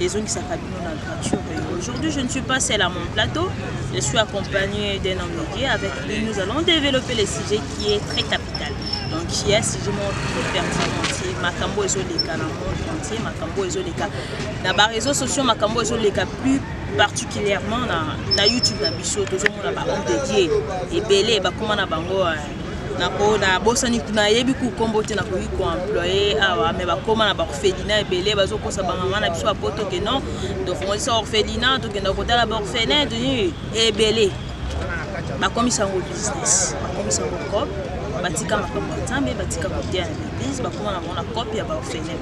ezongisaka bino na gratuit aujourd'hui je ne suis pas seul à mon plateau je suis accompagné d'un homme de Dieu avec lui nous allons développer le sujet qui est très capital donc il y a sujet moko très pertinent entier makambo ezoleka na monde entier makambo ezoleka na ba réseaux sociaux makambo ezoleka plus particulièrement na, na youtube na biso tozomona ba homme de Dieu ebele bakoma na bango euh, nako nabosani nayebi ku nkombo te nakoki koemploye awa me bakoma na baorphelina ebele bazokosa bamama na biso bapoto ke non tofongolisa orphelina tokenda kotala baorphelin toni ebele bakomisa yango business bakomisa yango cop batika makambo ya nzambe batika koteya na baeglise bakoma na bango na cope ya baorphelin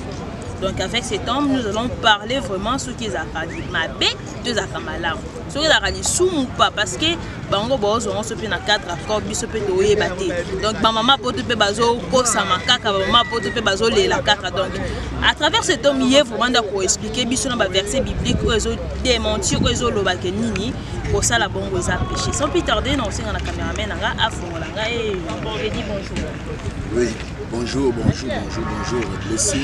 donc avec cet homme nous allons parler vraiment soki ezalaka mabe to ezalaka malamu soki ezalaka lisumu pa parce que bango baozwa yango so mpe na cadre accord biso mpe toyeba te donc bamama poto mpe bazokosama kaka bamama poto mpe bazolela kaka donc à travers cet homme ye vraiment nda koexplike biso na baverset biblique oyo ezodementir oyo ezolobake nini kosala bongo eza péché sans plus tarde na kosenga na cameraman na nga afongola nga e eh, edi bonjour Oui, bonjour, bonjour, bonjour, bonjour, blessing.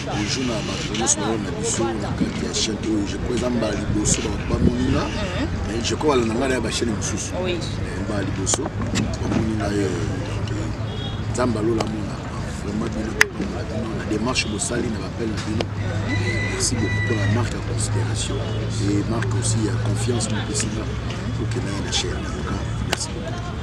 Bonjour na Barcelone, ce moment, na biso, na kati ya chaîne oyo. Je crois eza mbala liboso bato bamoni nga. Mais je crois balanda ngai na ya bachaîne mosusu. Oui. Mais mbala liboso bamoni nga ye. Nzambe alola mona. Vraiment bino tokomola bino na démarche bosali na bappel na bino. Merci beaucoup pour la marque ya considération et marque aussi ya confiance mopesi nga. Okenda ye na chaîne. Merci beaucoup.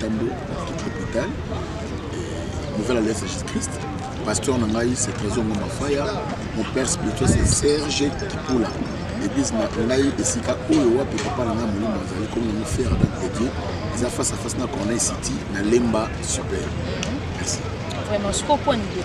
Tambo Afrique Hopital et Nouvel Alliance Jesus Christ. Pasteur na ngai c'est Trésor Ngoma Faya. Mon père spirituel c'est Serge Kipula. L'église na ngai esika oyo wapi papa na ngai molimo azali comme na mofere avec de Dieu. Eza face à face na Corneille City na Lemba Super. Merci. Vraiment, je comprends l'idée.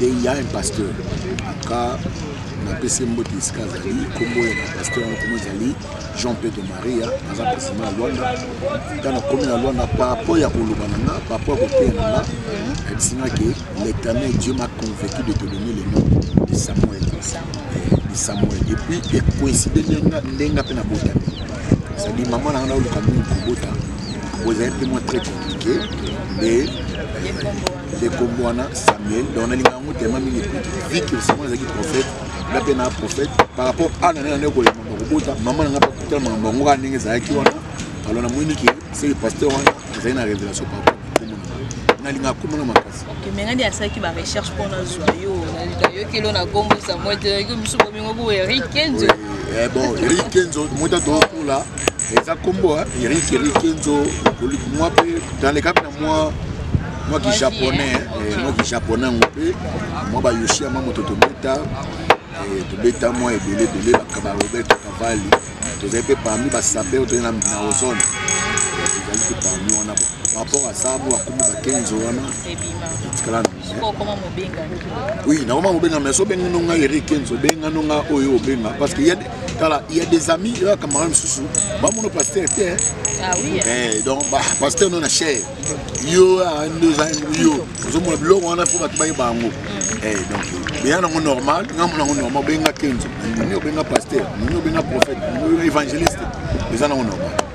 Il y a un pasteur. Aka napesi mbote esika azali nkombo ya pasteur yango nkombo ezali jean pedro maria aza president ya lwanda ntango nakomi na lwanda parapport ya koloba na nga parapport ya koteya na nga ayebisi nga ke l'éternel dieu m'a convaincu de te donner le nom de samuel de samuel et puis ekoincide ndenge nga mpe nabotami cestadi mama na nga naoluka mingi kobota bozali mpe mwa très compliqué nde ndeko mwana samuel donc nalinga yango tema mingi vi que samuel azalaki prophète nga mpe na prophète par rapport a na nani koyema bakobota mama na nga bakutala makambo yango kaka ndenge ezalaki wana alors namoni ke seke pasteur wana azali na révélation par rapport nalinga akomona makasi mengani asalaki barecherche mpo nazwa yo nayokeli na gombo samuel te yo misu bomingo bo erikenzo eh, bon erikenzo motatokola eza kombo eric eric kenzo mwa mpe dans le cadre na mwa mwa kijaponais eh, mwa kijaponais yango mpe mwa bayoshi ya mwa moto tobeta eh, tobeta mwa ebele ebele bakaba roberto cavalli tozali mpe parmi basaper tozali na ozone eh, tozali mpe parmi wana par rapport à ça mwa kombo bakenzo wana etikala oui nakoma mobenga mais sobengi no ngai eric kenzo benga no ngai oyo obenga parce que tala ya des amis ya camarade mosusu bamono paster te ah eh, donc paster no na cher yo yo ozomona biloko wana fo bato bayeba yango mm. eh, donc beya nango normal ngambo nango normal obenga kenzo nini obenga paster nini obenga prophète nini obenga évangéliste eza nango normal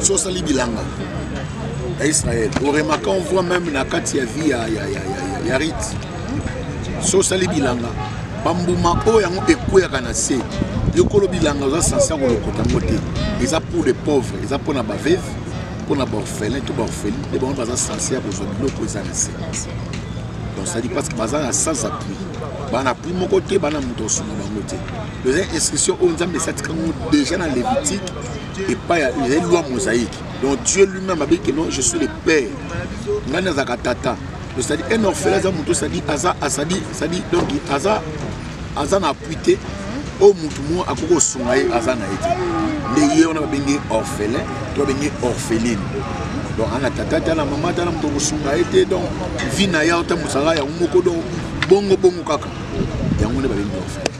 so osali bilanga ya israel oremaka on voit même na kati ya vie ya, ya, ya, ya, ya rite so osali bilanga bambuma oyo yango ekweyaka na se yokolo bilanga oza sanse ya kolokota yango te eza pour les pauvres eza mpo na baveve mpo na baorphelin to baorphelin nde bango baza sanse ya kozwa biloko eza na se donc sadi parce que baza na sans appui bana appui moko te bana moto osunga bango te eza instruction oyo nzambe esi atika yango déjà na lévitique epai ya ezali loi mosaïque donc dieu lui-même abeyi ke non je suis le père ngai nazalaka tata osadi un orphelin aza moto osadi aza asadi sadi donc aza aza na appui te oyo oh, motu moko akoki kosunga ye aza na ye te nde ye wana babengi orphelin to babengi orpheline donc ana tata te ana mama te ana moto kosunga ye te donc vi na ye ota mosala yango moko donc bongo bongo kaka yango nde babengi orphelin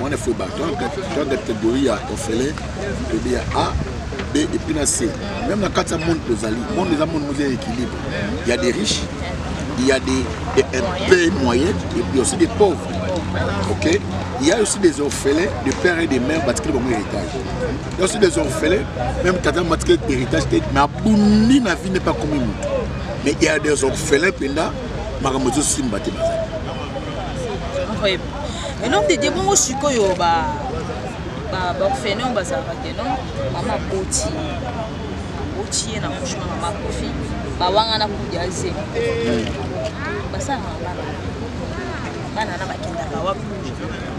mwana fue ba toyanga catégorie ya ofele toyebi ya a b epuis na c meme na kati ya monde tozali monde eza monde moza ya équilibre ya des riches il y a des, des un peu moyennes et puis aussi des pauvres ok il y a aussi des orphelins de père et de mère batikeli bango héritage il y a aussi des orphelins même tata matikeli héritage te mais abundi na vie n'est pas komi motu mais il y a des orphelins mpenza makambo ezosimba te bazali mais non tete bongo sikoyo ba baorphelin oyo bazalaka te non mama aboti aboti ye na couche na mama akufi bawangana kudi aze basalaka bana bana na bakendaka wapi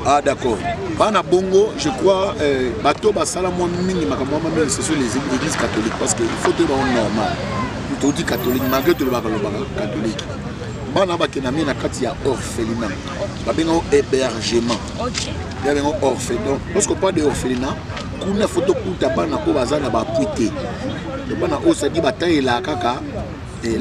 Ah d'accord. Bana Bongo, je crois, euh, bateau basala moi mingi makambo ma mère c'est sur les églises catholiques parce que il faut te rendre normal. Tout dit catholique malgré tout le baka le baka catholique. Bana bakena mi na kati ya orphelinat. babenga o hébergement ya bengo orphelin parce que pas de orphelina kuna fo tokuta bana oyo baza na bapui te bana oyo sadi batalela kaka eh,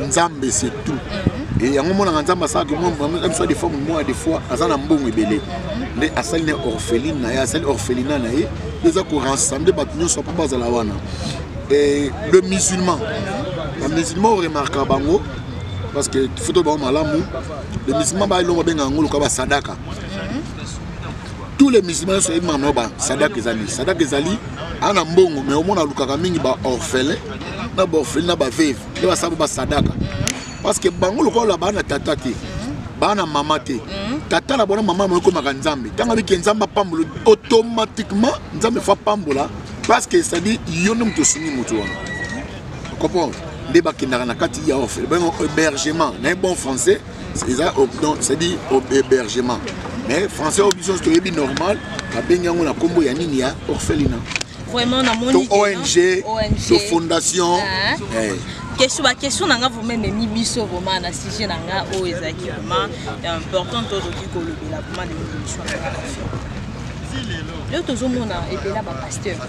nzambe c'est tout mhm. eh, yango omonaka nzambe asalaka mwa de forme mwa de fois aza na mbongo ebele mhm. nde asali na orpheline na ye asali orphelina na ye eza korassembler bato nyonso mpo bazala wana eh, le musulman mhm. bamusulman oremarka bango parce que foto bango malamu les musulmans ba elongo benga ngulu ka ba sadaka tous les musulmans soki mama ba sadaka ezali sadaka ezali ana mbongo mais omona alukaka mingi ba orphelin na ba orphelin na ba veuve nde basala ba sadaka parce que bango lokola baa na tata te baa na mama te tata na bona mama moyo ekomaka nzambe ntango abiki nzambe apambola automatiquement nzambe fo apambola parce que cestadi yo nde moto osungi moto wana comprendre nde bakendaka na kati ya ofele bango hébergement na bon français eza c'est-à-dire hébergement mais français oyo biso toyebi normal babengi yango na nkombo ya nini ya orphelina vraiment namoni to ong to fondation ah. eh. question baquestion na nga vraimen ememi biso vraimen na sujet na nga oyo ezalaki vraimen important tozoki kolobela vraimen na émission lelo tozomona ebela bapaster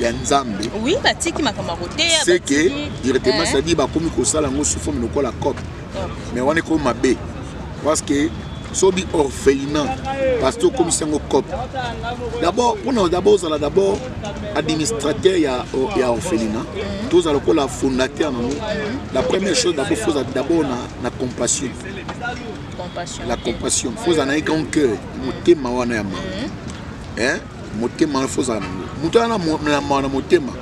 ya nzambe oui batiki makambo ya koteya c'est que directement eh. cetadire bakomi kosala yango sous forme lokola cop mais wana ekomi mabe parce que sobi orphelinat parce que okomisi yango cop d'abord mpona d'abord ozala d'abord administrateur ya, ya orphelinat mhm. tozala lokola fondateur nango mhm. la première chose d'abord fozala d'abord na, na compassion la compassion fozala na ye grand cœur motema wana ya mama mhm. motema wana fozala nango moto wana na mawa na motema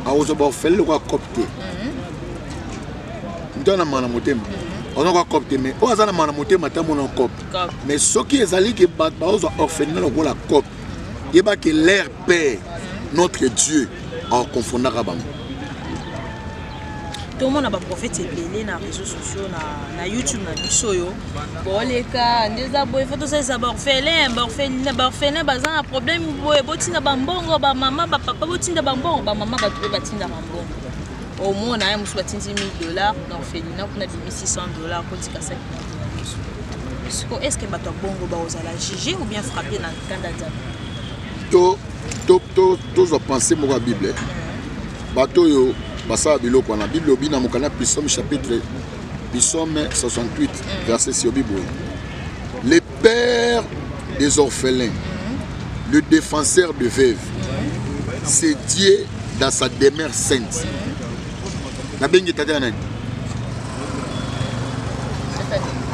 akozwa baofele lokola cope te mhm. moto wana na mawa na motema mhm. akozwa kwa cope te mais oyo aza na mawa na motema ata mona cope mais soki ezali ke bato bakozwa orphelina lokola cope mhm. yeba ke leur père notre dieu akoconfondaka bango tomona baprofete ebele na réseau sociaux na, na youtube na biso oyo boleka nde eza boye fo tosalisa baorphelin baorphelin baza na problème boye botinda bambongo bamama bapapa botinda bambongo bamama bato mpe batinda bambongo omona ye mosusu batindi 1000 dollars na orphelina kuna bimi 600 dollars kotika saki siko est ce que bato ya bongo bakozala juge ou bien frappe na nkanda nzambe tozwa pensé moko ya bible Bato oyo basala biloko wana bible obi na mokanda pisome chapitre pisome 68 verset si obi boye le père des orphelins le défenseur de veuve c'est dieu dans sa demeure sainte nabengi tata ya nani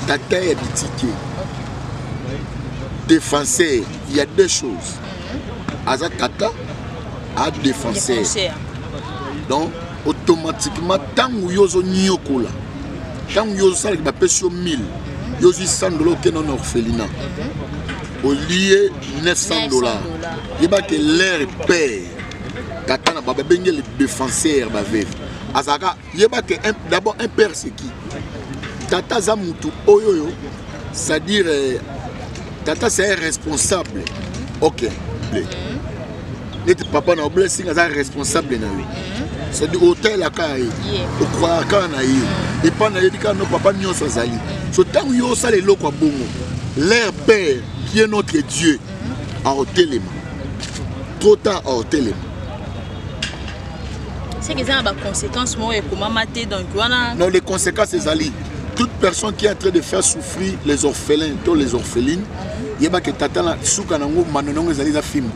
tata ya bitike défenseur il y a deux choses aza tata a défenseur donc automatiquement ntango yo ozonyokola ntango yo ozosalaki bapesi yo 1000 yo ozwi 100 dola okenda na orphelina olie 900 dola yeba ke l'air père tata na bababengi le défenseur baveve azalaka yeba ke d'abord un père c'est qui tata aza mutu oyo oyo c'est-à-dire euh, tata c'est un responsable ok neti papa na blessing aza responsable na yo c'est-à-dire otalelaka ye okwayaka na ye epai nayebi kaka no papa nyonso azali so ntango yo osala eloko ya bongo leur père qui est notre dieu aotelema trop tard aotelema seke eza na baconséquence moko ekomama te donc wana non les conséquences ezali toute personne qui est en train de faire souffrir les orphelins to les orphelines yeba ke tata na suka nango mano nango ezali eza fimbo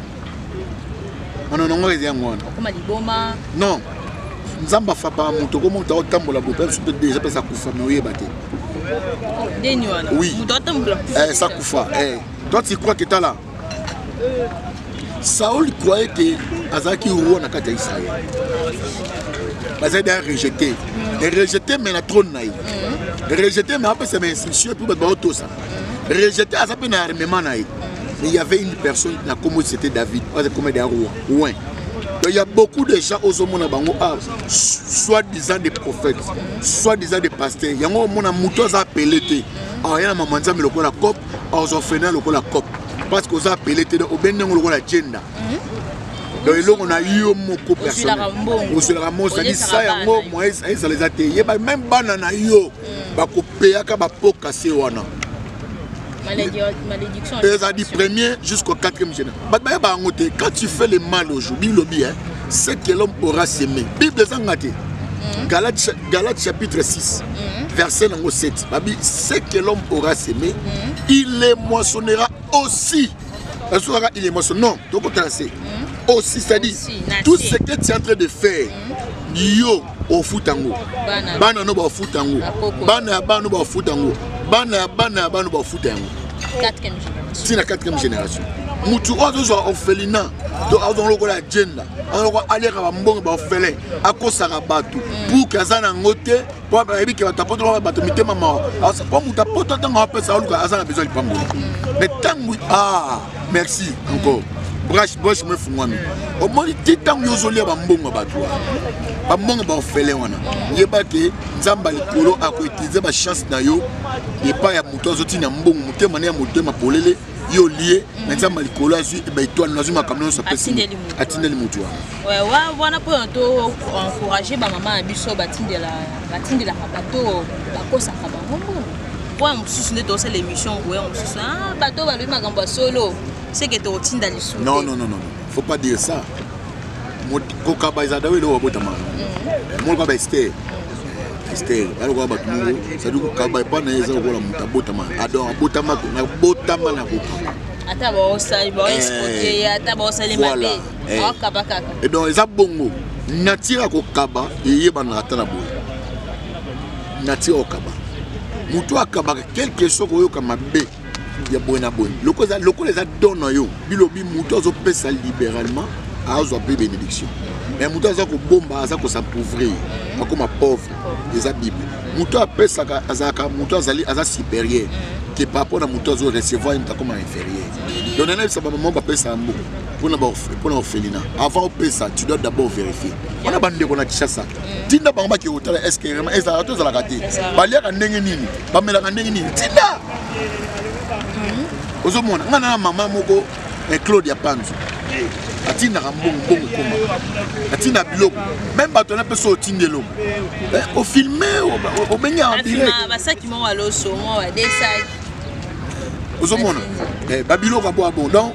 mano nango eza yango wana okoma liboma non nzambe afapaka moto okoma moto aotambola boye mpe biso mpe deja mpe sakufa me oyeba te oui eh, sakufa eh. toi tu crois que tala Saul croyait que azalaki roi na kati ya Israël. Bazali da rejeté. Et rejeté mais na trône na ye. Rejeté mais apesa ma instruction puis bato baotosa. Rejeté aza mpe na armement na ye. Mais il y avait une personne na kombo c'était David. Aza kombo ya roi. Ouais. Donc il y a beaucoup de gens ozomona bango ah, soit disant des prophètes, soit disant des pasteurs. Yango omona moto aza appelé te. Ah, yana mama nzambe lokola cop orphelin lokola cop parce que oza apele te obendi yango lokola agenda mhm. donc eloko na yo moko ozelaka mosali sa yango moyen ezala eza te yeba meme bana na yo mhm. bakopeyaka bapoka se wana eza du premier jusqu'au quatrième général bato bayeba yango te quand tu fais le mal aujourd'hui lobi ce que l'homme aura semé bible ezanga te mhm. galate Galates chapitre 6, mm. verset nango 7. Babi, ce que l'homme aura semé, mm. il les moissonnera aussi. Est-ce que il est moissonné Non, tu as c'est. Aussi, c'est-à-dire, tout ce que tu es en train de faire, mm. yo, au foot en haut. Bana no ba foot en haut. Bana ya bana no ba foot en haut. Bana ya bana ya bana no ba foot en haut. Quatrième génération. C'est la quatrième génération. mutu oyo azozwa orphelina to azonga lokola agenda azonga aliaka bambongo baorphelin akosaka bato mm. buki aza na yango te mpo ayebi ke bato apoto bato mitema mawa mpo moto apoto ntango apesa aluka aza na besoin lipamboli mm. mais ntango a ah, merci encore brache brache mo efungwami omoni ti ntango yo ozolia bambongo ya bato wana bambongo baofele wana yeba ke nzambe ya likolo akoutilize bachance na yo epai ya moto azotina mbongo motema ne ya motema polele ye olie na nzambe likolo azwi baetoile nazwi makambo nyonso apesi atindeli motu wana wana mpona to encourage bamama na biso batindelaka bato bakosaka bango mbongo mpo ya mosusu nde tosala émission boya mosusu ah, bato balobi makambo ya solo seke tokotinda lisusu faut pas dire ça kokaba ezalaka oyo eloko babotama mm. moko kaba ester ester balokoka bato moko sadi kokaba epa na ye eza lokola moto abotama ador abotama nabotama na kokaba ata baosali baoexplote eh, ata baosali mabe akaba eh. kaka eh, donc eza bongo natire ya kokaba eyebanaka ata na boye natire ya kokaba moto akabaka quelque soit koyoka mabe ya boye na boye lokola eza don na yo bilobi moto azopesa libéralement azwa mpe bénédiction mais moto aza kobomba aza kosampouvrir akoma pauvre eza bible moto apesaka azalaka moto azali aza supérieur ke par rapport na moto azo recevoir ye moto akoma inférieur donc nanayebisa bamama bapesaka mboka mpona orphelina avant opesa tu dois d'abord vérifier wana bandeko na kishasa tinda bango bake kotala eske vraiment ezalaka to ezalaka te baliaka ndenge nini bamelaka ndenge nini tinda mhm. ozomona ngai na mama moko eh, claude ya panzo atindaka mbongo mbongo ekoma atinda biloko meme bato na mpeso otindi eloko eh, ofilme obengi ambirasaki moko aloso mwa badesaki ozomona eh, babiloko aboa bon donc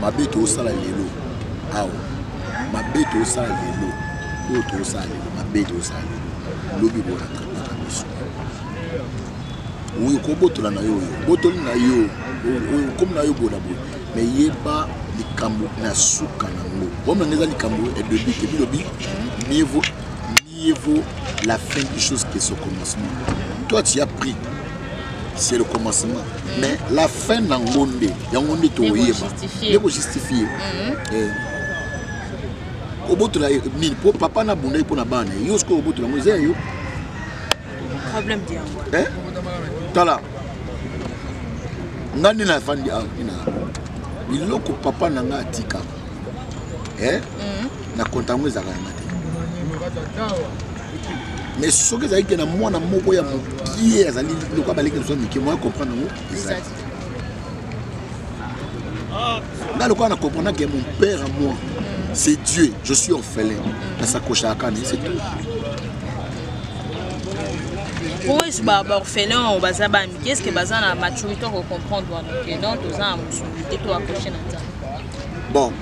mabe toosala lelo awa mabe toosala lelo oyo toosala lelo mabe toosala lelo lobi boratrapaka biso oyo kobotola na yo oyo botoli na yo oyo komi na yo bola boye me yeba likambo na suka nango omona eza likambo ebebi te bilobi mieux vaut Mieux vaut la fin des choses que son commencement. Toi, tu as pris. C'est le commencement. Mm. Mais la fin dans Gonde, il y a Gonde qui est pour justifier. obotola nini mpo papa na bundaki mpo na bana yo sikoyo obotola yango eza ya yo tala ngai nde nafandi awa biloko papa na ngai atika eh? mm. na konta yango ezalaka yanga te mais soki ezali ke na mwana moko ya mokie azali lokola baleki lisusu mike moya comprendre yango ezali nga lokola na comprendre ke mon père à moi c'est dieu je suis orphelin na sakoshaka kani c'est tout oyo baorphelin oyo baza bamike eske baza na maturité okocomprendre wana ke non toza na mosuni te to akoshe na nzambe bon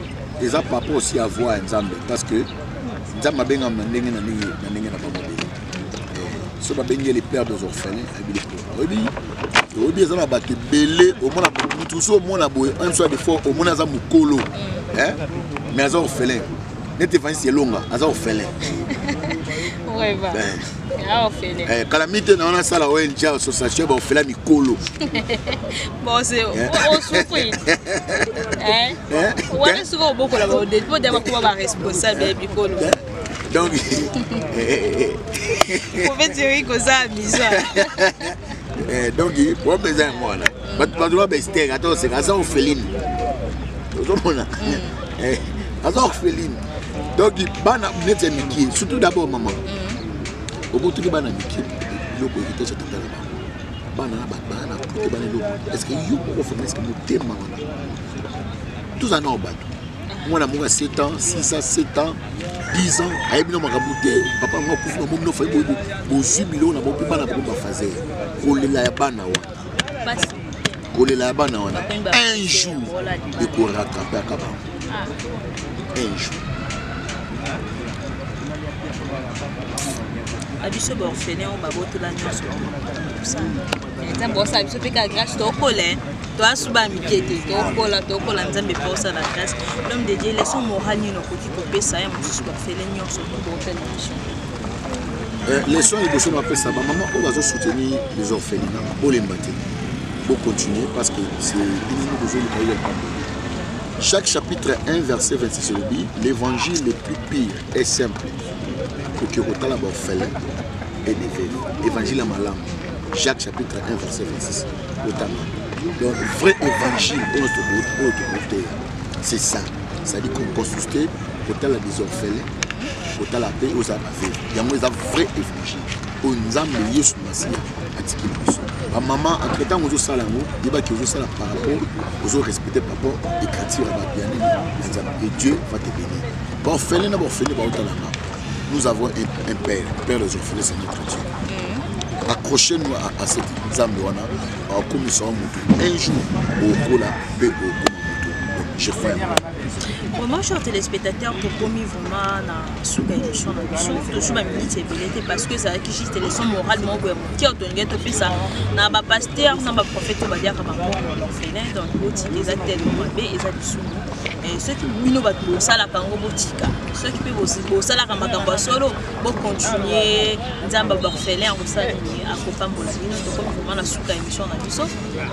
eza par rapport aussi à voir nzambe parce que nzambe abengama na ndenge na ndenge na ndenge na bango ndenge eh, so babengi ye le père des orphelins ayebi le père oyebi oyebi eza na bato ebele omona motu osi omona boye un soit de fois omona aza mokolo eh, mais aza orphelin neti evanisi elonga aza orphelin Eh, kala mite na wana asala ong association ya baofela mikolo donc donc problème eza yango wana bato bato ba bestere ata oseka aza orpheline ozomona mm. eh, aza orpheline donc bana neti ya mikie surtout d'abord mama mm. obotoli bana mikie biloko héritage ya tata na bango bana na bana na pote bana eloko estce yo moko fama estce motema wana toza nao bato mwana moko ya 7 ans 6 ans 7 ans 10 ans ayebi na makambo te papa yango akufi na momi nofa bozwi biloko na bope bana bango bafazer kolela ya bana wana kolela ya bana wana un jour ekorattrape aka bango un jour abiso baorphelin oyo babotola nyonso nzambe osala biso mpe kaka grâce tokola toasuba mike te tokola tokola nzambe mpe osala grâce l'homme de dieu leson moral nini okoki kopesa ya mosusu baorphelin nyonso bootala biso Eh, leson liboso na bapesa bamama oyo bazosoutenir les orphelina bolemba te bocontinue parce que c'est bino bozoluka yo likambo chaque chapitre 1 verset 26 elobi l'évangile le plus pire est simple koki kotala baorphelin et des veuves évangile ya malamu jacques chapitre 1 verset 26 otanga donc vrai évangile oyo tokoteya c'est ça c'est-à-dire qu'on consulte kotala des orphelins kotala mpe oza bave yango eza vrai évangile oyo nzambe yesu masiya atikeli biso bamama entre ntango ozosala yango yebaki ozosala par rapport ozorespecte par rapport écriture ya bato ya nini na nzambe e dieu va te bénir baorphelin na baorphelin baotalanga nous avons un, un père père des orphelins c'est notre dieu mm. accroche nous à, à cette nzambe wana akomisaka motu un jour okola mpe okoma motu donc je fais Vraiment, chers téléspectateurs, tokomi vraiment na suka émission na biso tozwi baminiti ebele te parce que ezalaki juste leçon morale moko boye moke otolingai topesa na bapaster na baprofete oyo baliaka bango orphelin donc botika eza telo mabe eza lisumu eh, soki bino bato bosalaka yango botika soki mpe bosalaka makambo ya solo bocontinue nzambe baorphelin akosala nini akopambola bino tokomi vraiment na suka émission na biso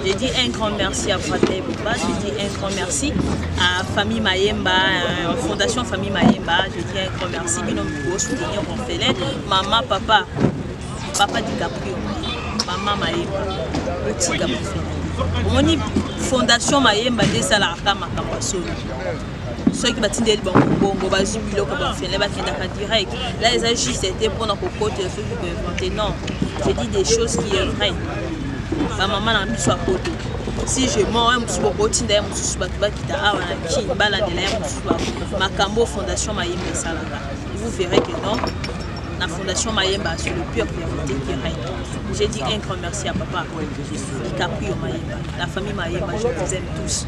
Je dis un grand merci à Fateh Bouba, je dis un grand merci à Famille Mayemba, euh, Fondation Famille Mayemba, je dis un grand merci, Binom Bougo, soutenir Orphelin, Maman, Papa, Papa DiCaprio, Maman Mayemba, Petit Gabriel. omoni fondation mayemba nde esalaka makambo ya solo soki batindeli bango mbongo bazwi biloko bafele bakendaka direct la eza juste te mpona kokotela soki koinvente non je dis des choses qui est vrai bamama na biso ya poto si je mort ye mosusu bokotinda ye mosusu bato bakita awa na kin balandela ye mosusu makambo fondation mayemba esalaka vous verrez que non la Fondation Mayemba sur le pur vérité qui règne. J'ai dit un grand merci à papa DiCaprio Mayemba, la famille Mayemba, je vous aime tous.